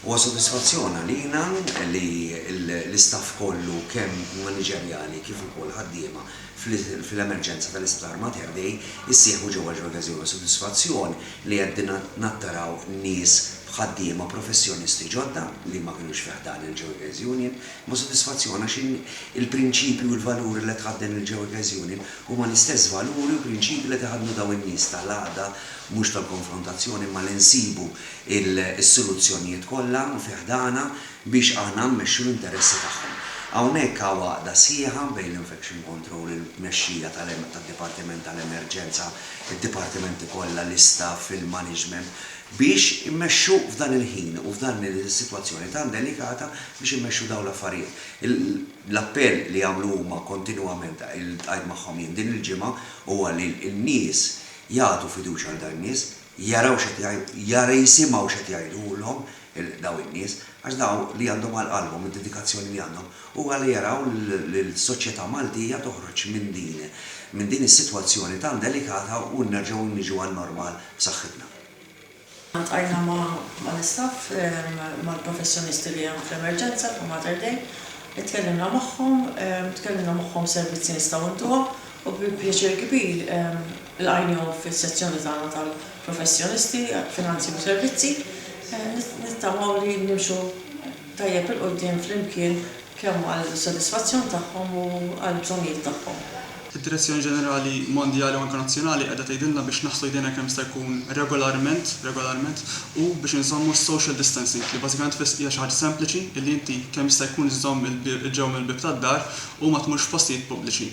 Huwa sodisfazzjon għalina li l-istaff kollu kemm maniġerjali kif ukoll ħaddiema fl-emerġenza tal-Isptar Mater Dei ssieħbu ġewwa l-ġolgazzi. Huwa sodisfazzjon li għedna nattaraw nies b'ħaddiema professjonisti ġodda li ma kinux fi ħdan il-Ġewgaz Union. Huwa sodisfazzjon għax il-prinċipji u l-valuri li qed tħadden il-Ġewgaz Union huma l-istess valuri u prinċipji li qed iħaddnu dawn in-nies tal-għaqda mhux tal-konfrontazzjoni imma li nsibu s-soluzzjonijiet kollha fi ħdanha biex aħna mmexxu l-interessi tagħhom. Hawnhekk hawn għaqda sħiħa bejn l-Infection Control, il-tmexxija tad-Dipartiment tal-Emerġenza, id-dipartimenti kollha, l-istaff, il-maniġment biex immexxu f'dan il-ħin u f'dan is-sitwazzjoni tant delikata biex immexxu dawn l-affarijiet. L-appell li jagħmlu huma kontinwament, iltqajt magħhom jien din il-ġimgħa, huwa li n-nies, jagħtu fiduċja għal dawn in-nies, jaraw x'qed jgħid, jisimgħu x'qed jgħidulhom dawn in-nies, għax dawn li għandhom għal qalbhom id-dedikazzjoni li għandhom huwa li jaraw lill-soċjetà Maltija toħroġ minn din minn din is-sitwazzjoni tant delikata u nerġgħu niġu għan-normal b'saħħitna. Ltqajna mal-istaff, mal-professjonisti li hemm fl-emerġenza ta' Mater Dei, itkellimna magħhom, tkellimna magħhom servizzi nistgħu ntuha u bi pjaċir kbir lqajnihom fis-sezzjoni tagħna tal-professjonisti, finanzi u servizzi. Nittamaw li nimxu tajjeb 'il quddiem flimkien kemm għall-sodisfazzjon tagħhom u għall-bżonnijiet tagħhom. Id-Direzzjoni Ġenerali Mondjali u anke Nazzjonali qiegħda tgħidilna biex naħslu jdejna kemm jista' jkun regolarment, regolarment, u biex inżommu s-social distancing, li bażikament tfiss hija xi ħaġa sempliċi li inti kemm jista' jkun żżomm il-ġewwa mill-bieb tad-dar u ma tmurx f'postijiet pubbliċi.